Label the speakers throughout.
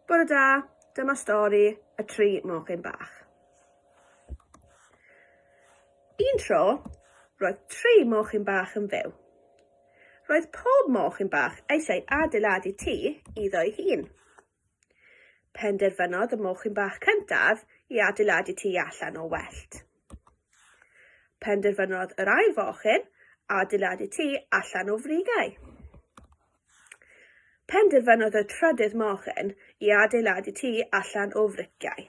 Speaker 1: Bore da, dyma stori y tri mochyn bach. Un tro, roedd tri mochyn bach yn fyw. Roedd pob mochyn bach eisiau adeiladu tŷ iddo'i hun. Penderfynodd y mochyn bach cyntaf i adeiladu tŷ allan o wellt. Penderfynodd yr ail fochyn adeiladu tŷ allan o frigau. Penderfynodd y trydydd mochyn i adeiladu tŷ allan o friciau.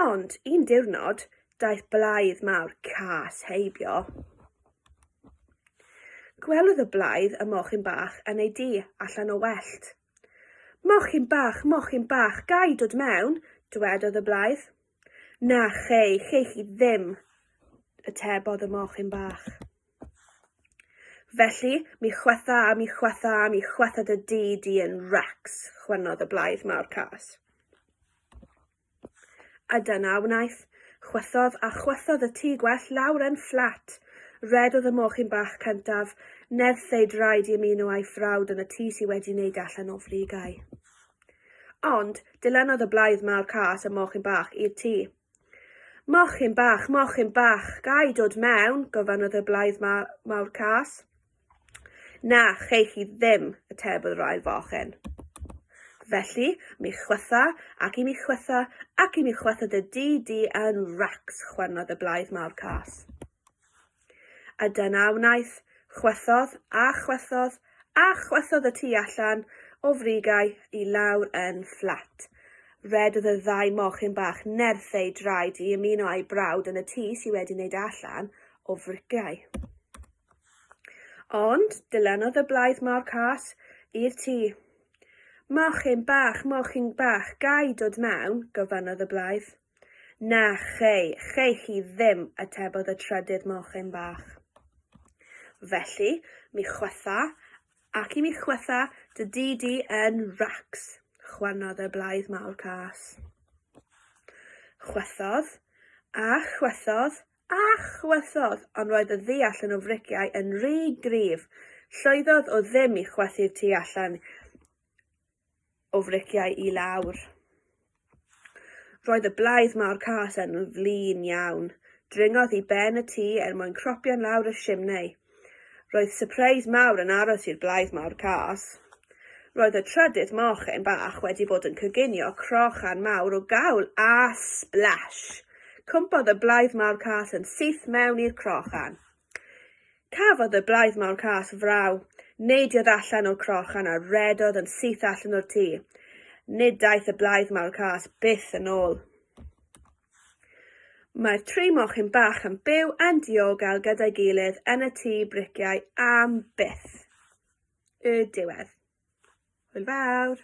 Speaker 1: Ond un diwrnod, daeth blaidd mawr cas heibio. Gwelodd y blaidd y mochyn bach yn ei dŷ allan o wellt. Mochyn bach, mochyn bach, gai dod mewn? dwedodd y blaidd. Na, chei, chei chi ddim, y tebodd y mochyn bach. Felly, mi chwetha a mi chwetha a mi chwetha dy di di yn Rex, chwennodd y blaidd mawr cas. A dyna wnaeth, chwethodd a chwethodd y tŷ gwell lawr yn fflat. Red oedd y mochyn bach cyntaf, nerth ei draed i ymuno a'i frawd yn y tŷ sydd wedi wneud allan o frigau. Ond, dilennodd y blaidd mawr cas y mochyn bach i'r tŷ. Mochyn bach, mochyn bach, ga i dod mewn? gofynnodd y blaidd ma mawr cas. Na, chei chi ddim, atebodd yr ail fochyn. Felly, mi chwytha, ac i mi chwytha, ac i mi chwytha dy di di yn racs, chwernodd y blaidd mawr cas. A dyna a wnaeth, chwythodd, a chwythodd, a chwythodd y tu allan o frigau i lawr yn fflat. Rhedodd y ddau mochyn bach nerth eu draed i ymuno â'i brawd yn y tŷ sydd wedi wneud allan o frigau. Ond dilanodd y blaidd mor cas i'r tŷ. Mochyn bach, mochyn bach, gai dod mewn? gofynnodd y blaidd. Na, chei, chei chi ddim, atebodd y trydydd mochyn bach. Felly, mi chwytha, ac i mi chwytha dy di di yn racs, chwanodd y blaidd mawr cas. Chwythodd, a chwythodd, a chwythodd, ond roedd y ddeall yn o frigiau yn rhy gryf. Llwyddodd o ddim i chwythu'r tu allan o friciau i lawr. Roedd y blaidd mawr cas yn flin iawn. Dringodd i ben y tŷ er mwyn cropio'n lawr y simnei. Roedd sypreis mawr yn aros i'r blaidd mawr cas. Roedd y trydydd mochyn bach wedi bod yn coginio crochan mawr o gawl a splash! Cwmpodd y blaidd mawr cas yn syth mewn i'r crochan. Cafodd y blaidd mawr cas fraw. Neidiodd allan o'r crochan a rhedodd yn syth allan o'r tŷ. Nid daeth y blaidd mawr cas byth yn ôl. Mae'r tri mochyn bach yn byw yn diogel gyda'i gilydd yn y tŷ briciau am byth. Y diwedd. Hwyl fawr!